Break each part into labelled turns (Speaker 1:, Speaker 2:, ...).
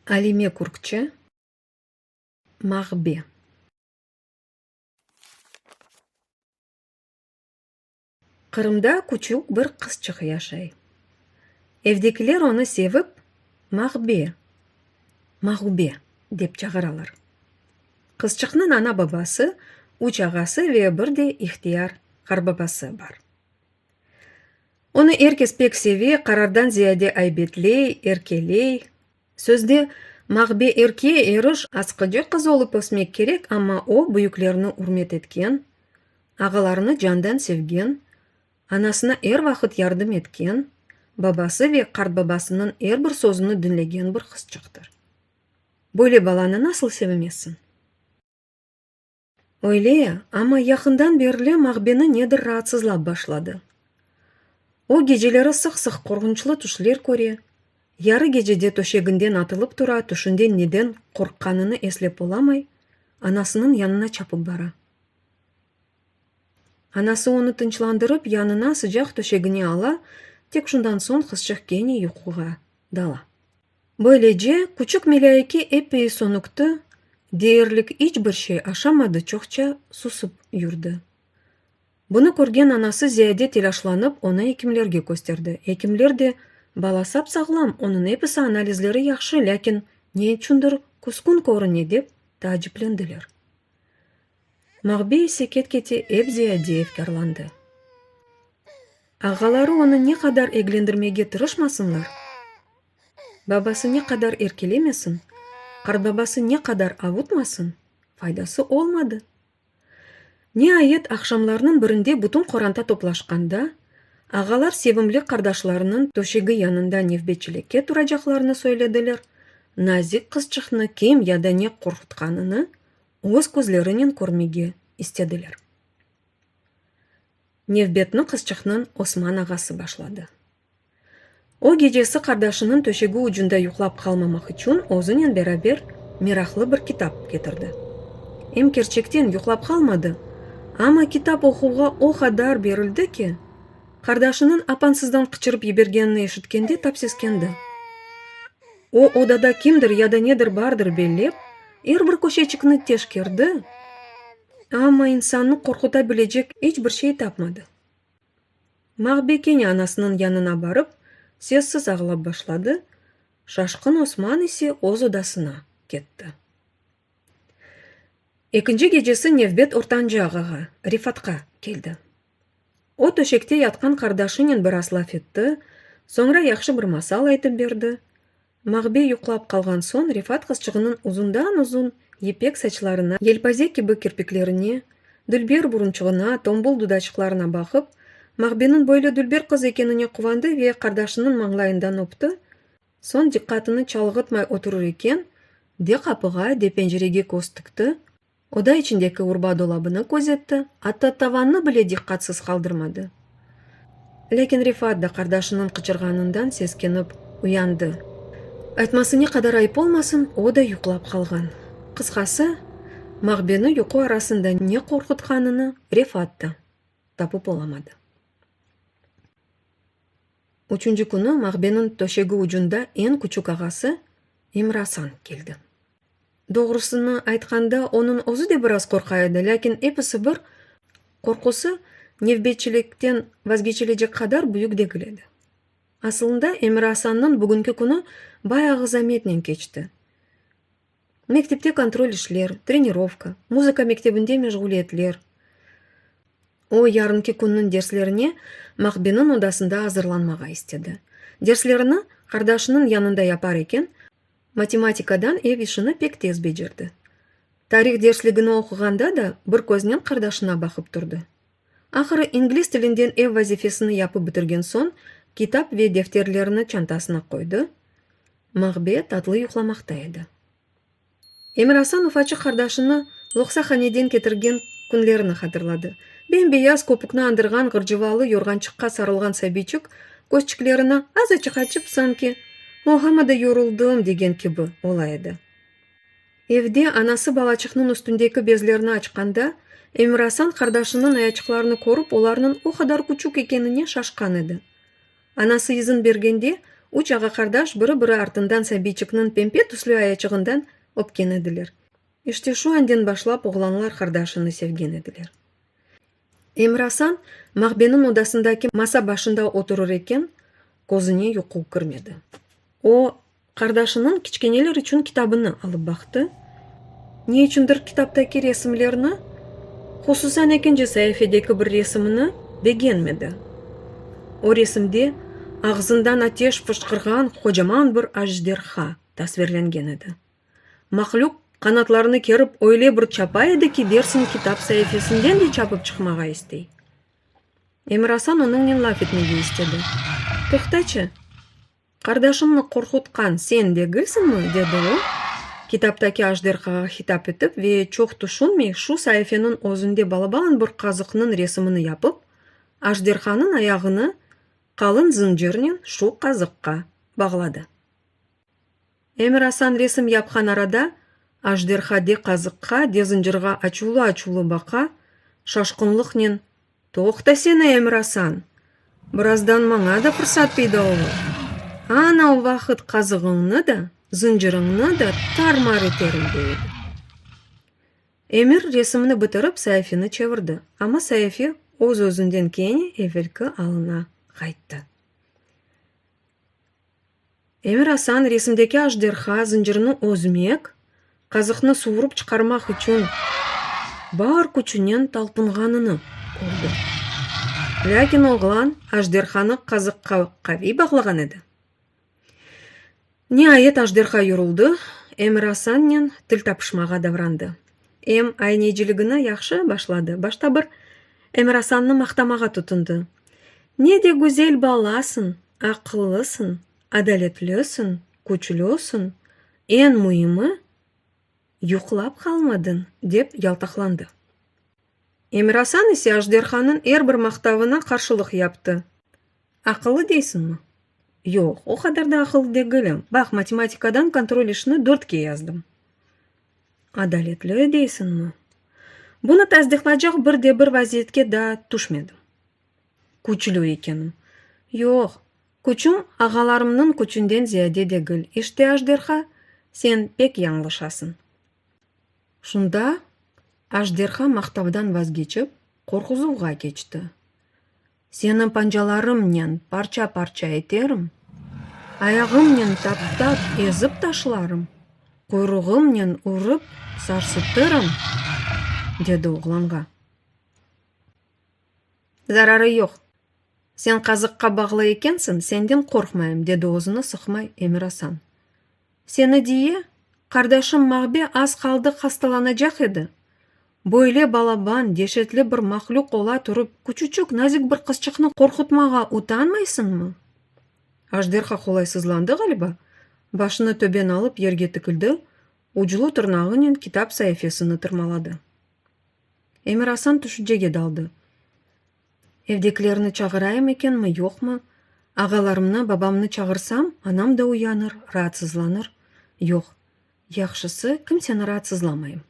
Speaker 1: Alime Kürkçe, Mağbe. Qırımda küçük bir qızçıq yaşay. Evdekiler onı sevip, Mağbe, Mağube dep çağıralar. Qızçıqnıñ ana-babası, üç ağası ve bir de ihtiyar qarbabası bar. Onı er kes pek seve, qarardan ziyade aybetley, erkeley. Sözde, Mağbe erke, eriş, asqıcı qız olıp ösmek kerek, amma o, büyüklerni ürmet etken, ağalarını candan sevgen, anasına er vaqıt yardım etken, babası ve qartbabasınıñ er bir sözüni diñlegen bir qızçıqtır. Böyle balanı nasıl sevemezsiñ? Öyle, amma yaqından berli Maqbeni nedir raatsızlap başladı. O, geceleri sıq-sıq qorğunçlı tüşler köre, yarı gecede töşeginden atılıp tura, tüşünde neden qorqqanını eslep olamay, anasınıñ yanına çapıp bara. Anası onı tınçlandırıp, yanına sıcaq töşegine ala, tek şundan soñ qızçıq kene yuquğa dala. Böylece, küçük melâike epey sönüktü, deyirlik iç bir şey aşamadı çoqça susıp yurdı. Bunı körgen anası ziyade telâşlanıp onı ekimlerge kösterdi. Ekimler de, Bala sap-sağlam, onıñ episi analizleri yahşı, lâkin ne içündir küskün körüne, dep taaciplendiler. Mağbi ise ket-kete ep ziyade efkârlandı. Ağaları onı ne qadar eglendirmege tırışmasınlar, babası ne qadar erkelemesin, qartbabası ne qadar avutmasın, faydası olmadı. Niayet, aqşamlarnıñ birinde bütün qoranta toplaşqanda, ağalar sevimli qardaşlarınıñ töşegi yanında nevbetçilikke turacaqlarını söylediler, nazik qızçıqnı kim ya da ne qorqutqanını Öz közlerinen körmege istediler. Nevbetni qızçıqnıñ Osman ağası başladı. O, gecesi qardaşınıñ töşegi ucunda yuqlap qalmamaq içün özünen beraber meraqlı bir kitap ketirdi. Em kerçekten yuqlap qalmadı, amma kitap oquvğa o qadar berildi ki, qardaşınıñ apansızdan qıçırıp yibergenini eşitkende tap seskendi. O odada kimdir ya da nedir bardır bellep, er bir köşeçikni teşkerdi, amma insannı qorquta bilecek iç bir şey tapmadı. Maqbi kene anasınıñ yanına barıp, sessiz ağlap başladı, Şaşqın Osman ise öz odasına ketti. Ekinci gecesi nevbet ortancı ağağa, Refatqa, keldi. O töşekte yatqan qardaşınen biraz laf etti, soñra yahşı bir masal aytıp berdi. Mağbey yuqlap qalğan soñ Refat qızçığınıñ uzundan-uzun yipek saçlarına, yelpaze kibi kirpiklerine, dülber burunçığına, tombul dudaçıqlarına baqıp, Mağbeniñ böyle dülber qız ekenine quvandı ve qardaşınıñ mañlayından öpti, soñ diqqatını çalğıtmay oturır eken de qapığa, de pencerege köz tikti, Oda içindeki urba dolabını közetti, atta tavannı bile diqqatsız qaldırmadı. Lâkin Refat da qardaşınıñ qıçırğanından seskenip uyandı. Aytması ne qadar ayıp olmasın, o da yuqlap qalğan. Qısqası, Maqbeni yuqu arasında ne qorqutqanını Refat da tapıp olamadı. Üçünci künü Mağbeniñ töşegi ucunda eñ küçük ağası İmrasan keldi. Doğrusını aytqanda, onıñ özü de biraz qorqa edi, lâkin episi bir, qorqusı nevbetçilikten vazgeçilecek qadar büyük degil edi. Asılında, İmrasannıñ bugünki künü bayağı zametnen keçti. Mektepte kontrol işler, trenirovka, muzıka mektebinde meşğuliyetler. O, yarınki künniñ derslerine Maqbeniñ odasında azırlanmağa istedi. Derslerini qardaşınıñ yanında yapar eken, matematikadan ev işini pek tez becerdi. Tarih dersligini oquğanda da bir köznen qardaşına baqıp turdı. Ahırı ingliz tilinden ev vazifesini yapıp bitirgen soñ, kitap ve defterlerini çantasına qoydı, Mağbe tatlı yuqlamaqta edi. Emirasan ufaçıq qardaşını loqsahaneden ketirgen künlerini hatırladı. Bem-beyaz köpükni andırğan ğırcıvalı yorğançıqqa sarılğan sabiyçik közçiklerini azaçıq açıp, sanki, Oğama da yoruldım, degen kibi, ola edi. Evde anası balaçıqnıñ üstündeki bezlerni açqanda, Emirhasan qardaşınıñ ayaçıqlarını körip, olarnıñ o qadar küçük ekenine şaşqan edi. Anası izin bergende, üç ağa-qardaş biri-biri artından Sabiyçikniñ pempe tüslü ayaçığından öpken ediler. İşte şu anden başlap oğlanlar qardaşını sevgen ediler. Emir-Asan mağbeniñ odasındaki masa başında oturır eken, közüne yuqu kirmedi. O, qardaşınıñ kiçkeneler içün kitabını alıp baqtı, ne içündir kitaptaki resimlerni, hususan ekinci saifedeki bir resimni begenmedi. O resimde ağzından ateş fışqırğan qocaman bir ajderha tasvirlengen edi. Mahlüq qanatlarını kerip öyle bir çapa edi ki, dersiñ kitap saifesinden de çapıp çıqmağa istey. Emirasan onıñnen laf etmege istedi. Toqtaçı, qardaşıñnı qorqutqan sen degilsiñmi? dedi o, kitaptaki ajderhağa hitap etip ve çoq tüşünmey şu saifeniñ özünde balaban bir qazıqnıñ resimini yapıp, ajderhanıñ ayağını qalın zıncırnen şu qazıqqa bağladı. Emir Asan resim yapqan arada, ajderha de qazıqqa, de zıncırğa açuvlı-açuvlı baqa, şaşqınlıqnen, Toqtasene, Emir Asan! Birazdan maña da fırsat peyda olur. Ana o vaqıt qazığıñnı da, zıncırıñnı da tar-mar eterim, dey edi. Emir resimni bitirip, saifeni çevirdi, amma saife öz-özünden kene evelki alına qayttı. Emir Asan resimdeki ajderha zıncırını özmek, qazıqnı suvurıp çıqarmaq içün bar küçünen talpınğanını kördi. Lâkin oğlan ajderhanı qazıqqa qaviy bağlağan edi. Niayet ajderha yuruldı, Emir Asannen til tapışmağa davrandı. Em ayneciligini yahşı başladı, başta bir Emirasannı maqtamağa tutundı, Ne de güzel balasıñ, aqıllısıñ, adaletlisiñ, küçlüsiñ, eñ müimi, yuqlap qalmadıñ, dep yaltaqlandı. Emirasan ise ajderhanıñ er bir maqtavına qarşılıq yaptı, Aqıllı deysiñmi? Yoq, o qadar da aqıllı degilim, baq, matematikadan kontrol işini dörtke yazdım. Adaletli deysiñmi? Bunı tasdiqlaycaq bir de bir vaziyetke daa tüşmedim. Küçlü ekenim. Yoq, küçüm ağalarımnıñ küçünden ziyade degil, işte ajderha, sen pek yañlışasıñ. Şunda ajderha maqtavdan vazgeçip, qorquzuvğa keçti. Seni pancalarımnen parça-parça eterim, ayağımnen taptap ezip taşlarım, quyruğımnen urıp sarsıtırım, dedi oğlanğa. Zararı yoq, sen qazıqqa bağlı ekensiñ, senden qorqmayım, dedi özüni sıqmay Emir Asan. Seni diye, qardaşım Mağbe az qaldı hastalanacaq edi. Böyle balaban, deşetli bir mahlüq ola turıp, küçücük, nazik bir qızçıqnı qorqutmağa utanmaysıñmı? Ajderha qolaysızlandı ğaliba, başını töben alıp yerge tikildi, uclu tırnağınen kitap sayafesini tırmaladı. Emir-Asan tüşücege daldı. Evdekilerni çağırayım ekenmi, yoqmı? Ağalarımnı, babamnı çağırsam, anam da uyanır, raatsızlanır. Yoq, yahşısı, kimseni raatsızlamayım.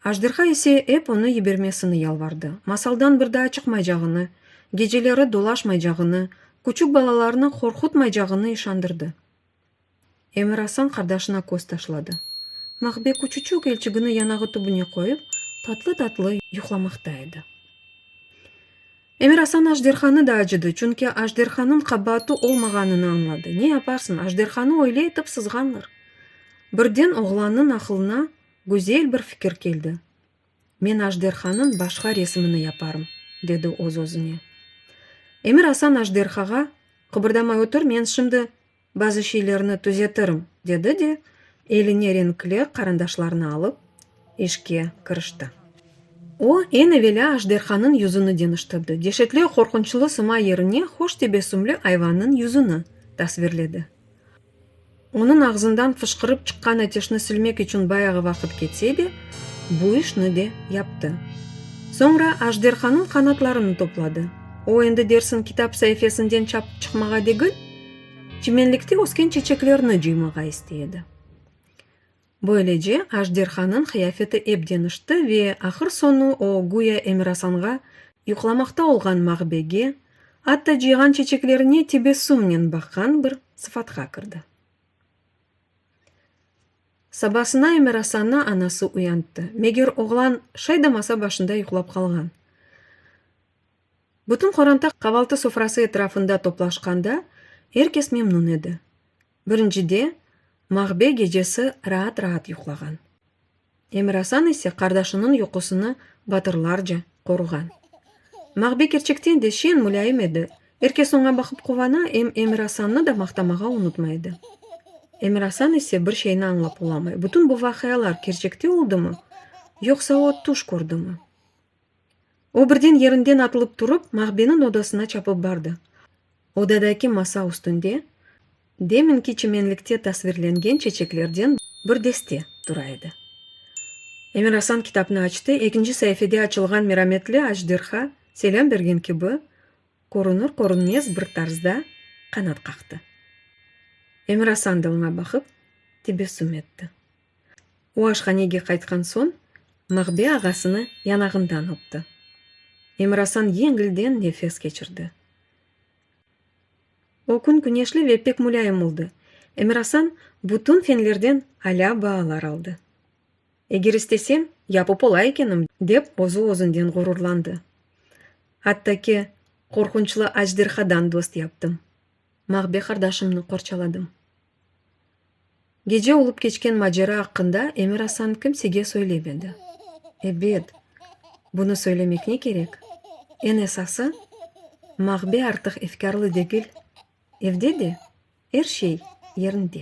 Speaker 1: Ajderha ise ep onı yibermesini yalvardı, masaldan bir daa çıqmaycağını, geceleri dolaşmaycağını, küçük balalarnı qorqutmaycağını işandırdı. Emir-Asan qardaşına köz taşladı. Maqbe küçüçük elçigini yanağı tübüne qoyıp, tatlı-tatlı yuqlamaqta edi. Emir-Asan ajderhanı da acıdı, çünki ajderhanıñ qabaatı olmağanını añladı. Ne yaparsıñ, ajderhanı öyle etip sızğanlar. Birden oğlannıñ aqılına güzel bir fikir keldi. Men ajderhanıñ başqa resimini yaparım, dedi öz-özüne. Emir Asan ajderhağa, Qıbırdamay otur, men şimdi bazı şeylerni tüzetirim, dedi de, eline renkli qarandaşlarnı alıp, işke kirişti. O, eñ evelâ ajderhanıñ yüzüni deñiştirdi, deşetli, qorqunçlı sıma yerine hoş tebessümli ayvannıñ yüzüni tasvirledi. Onıñ ağzından fışqırıp çıqqan ateşni silmek içün bayağı vaqıt ketse de, bu işni de yaptı. Soñra ajderhanıñ qanatlarını topladı. O, endi dersiñ kitap saifesinden çapıp çıqmağa degil, çimenlikte ösken çeçeklerni cıymağa istey edi. Böylece, ajderhanıñ qıyafeti ep deñişti ve ahır soñu o, güya Emirasanğa, yuqlamaqta olğan mağbege, atta cıyğan çeçeklerine tebessümnen baqqan bir sıfatqa kirdi. Sabasına Emirasannı anası uyanttı, meger oğlan şay da masa başında yuqlap qalğan. Bütün qoranta qavaltı sofrası etrafında toplaşqanda, er kes memnun edi. Birincide, Mağbe gecesi raat-raat yuqlağan. Emirasan ise qardaşınıñ yuqusını batırlarca qoruğan. Mağbe kerçekten de şeñ, mulâyim edi, er kes oña baqıp quvana, em Emirasannı da maqtamağa unutmay edi. Emirasan ise bir şeyni añlap olamay, bütün bu vaqialar kerçekte oldımı, yoqsa o tüş kördümi? O birden yerinden atılıp turıp, Maqbeniñ odasına çapıp bardı. Odadaki masa üstünde deminki çimenlikte tasvirlengen çeçeklerden bir deste tura edi. Emirasan kitapnı açtı, ekinci saifede açılğan merametli ajderha selâm bergen kibi, körünür-körünmez bir tarzda qanat qaqtı. Emirasan da oña baqıp tebessüm etti. O aşhanege qaytqan soñ, Mağbe ağasını yanağından öpti. Emirasan yeñilden nefes keçirdi. O kün küneşli ve pek mulâyim oldı. Emirasan bütün fenlerden alâ baalar aldı. Eger istesem, yapıp ola ekenim, dep özü-özünden ğururlandı. Atta ki, qorqunçlı ajderhadan dost yaptım. Mağbe qardaşımnı qorçaladım. Gece olıp keçken macera aqqında Emir Asan kimsege söylemedi. Ebet, bunı söylemekne kerek, eñ esası, Mağbe artıq efkârlı degil, evde de er şey yerinde.